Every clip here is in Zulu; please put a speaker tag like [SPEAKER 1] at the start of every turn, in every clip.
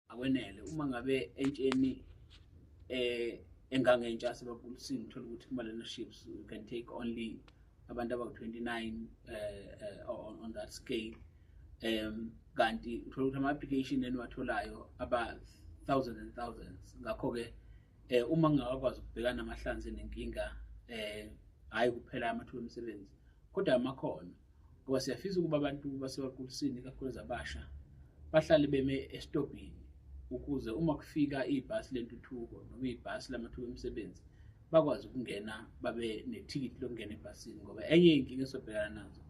[SPEAKER 1] akwenele uma ngabe entsheni eh engangentsha sebabulisini uthola ukuthi kumalena ships you can take only abantu abawu-29 eh, uh, on, on that scale um kanti uthola ukuthi ama-application eniwatholayo aba-thousand and thousands ngakho-ke um uma ngingakakwazi ukubhekana namahlanzi nenkinga um hhayi kuphela amathuba emisebenzi kodwa amakhono ngoba siyafisa ukuba abantu basebaqulisini ikakhulukazi abasha bahlale beme esitobhini ukuze uma kufika ibhasi lentuthuko noma ibhasi lamathuba emisebenzi bakwazi ukungena babe nethikithi lokungena ebhasini ngoba enye yey'nkinga esobhekana nazo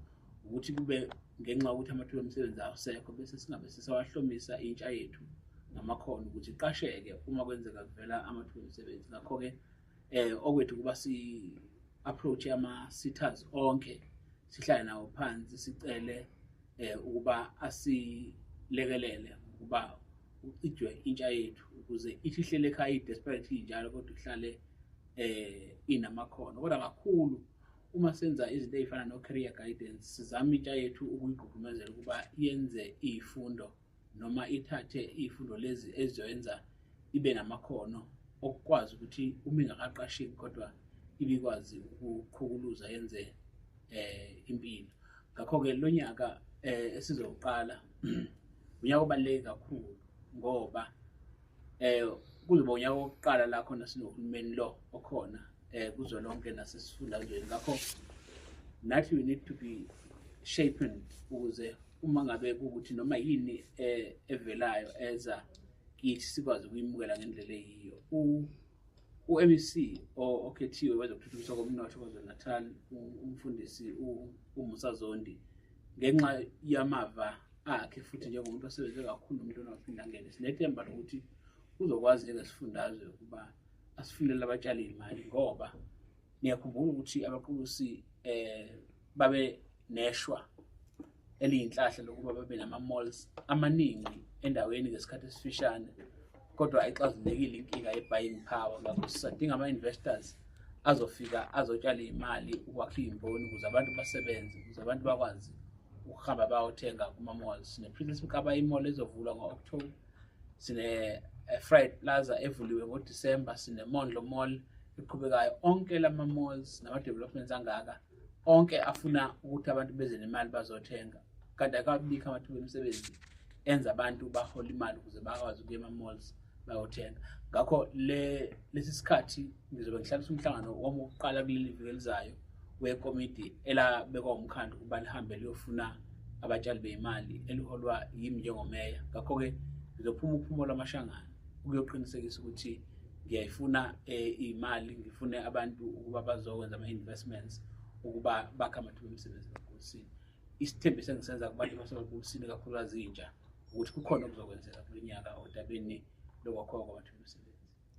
[SPEAKER 1] ukuthi kube ngenxa yokuthi amathuba emisebenzi awusekho bese singabe sisawahlomisa intsha yethu ngamakhono ukuthi iqasheke uma kwenzeka kuvela amathuba emisebenzi ngakho-ke eh okwethu kuba si approach ama sitters onke sihlale nawo phansi sicele eh ukuba asilekelele ukuba ucijwe intsha yethu ukuze ithi ihlele ekhaya i-desperate njalo kodwa ihlale eh inamakhono kodwa kakhulu uma senza izinto ezifana no-career guidance sizama intsha yethu ukuyigqugqumezela ukuba yenze iy'fundo noma ithathe iy'fundo lezi ezizoyenza ibe namakhono okukwazi ukuthi uma ingakaqasheki kodwa ibikwazi ukuqhukuluza yenze eh impilo ngakho-ke lo nyaka eh esizowuqala unyaka obaluleke kakhulu ngoba eh kuzoba unyaka wokuqala la khona sinohulumeni lo okhona eh kuzolonke nasesifundazweni ngakho nathi we need to be shapened ukuze uma ngabe ukuthi noma yini eh, evelayo eza kithi sikwazi ukuyimukela ngendlela eyiyo u-MEC okhethiwe wezokuthuthukiswa komnotho KwaZulu-Natal umfundisi uMusa Zondi ngenxa yamava akhe futhi njengomuntu osebenze kakhulu nomuntu ongaphinde angene sinethemba lokuthi uzokwazi njengesifundazwe ukuba asifunele abatshali imali ngoba ngiyakhumbula ukuthi abaqulusi eh babe neshwa eliyinhlahla lokuba babe nama malls amaningi endaweni ngesikhathi esifishane kodwa ayixazulekile inkinga ye-buying power ngakho sisadinga ama-investors azofika azotshala iy'mali ukwakha iy'mboni ukuze abantu basebenze ukuze abantu bakwazi ukuhamba bayothenga kuma-malls sine-princess mkaba imall ezovulwa ngo-october sine-fried eh, plaza evuliwe ngodisemba sine-mondlo mall eqhubekayo onke lama-malls nama-developments angaka onke afuna ukuthi abantu beze nemali bazothenga kanti akabikho amathuba emisebenzi enza abantu bahola imali ukuze bakwazi ukuya ema-malls bayothenga ngakho lesi sikhathi ngizobe ngihlalisa umhlangano wami wokuqala kuleli viki elizayo wekomidi elabekwa umkhandlu ukuba lihambe liyofuna abatshali beyimali eliholwa yimi njengomeya ngakho-ke ngizophuma uphumolo amashangana ukuyoqinisekisa ukuthi ngiyayifuna eh, imali ngifune abantu ukuba bazokwenza ama-investments ukuba bakhe amathuba emisebenzi kakhululusini isithembiso engisenza kubantu basemagulisini kakhulukazi intsha ukuthi kukhona okuzokwenzeka kulo nyaka odabeni lokwakhiwa kwamathuba emisebenzi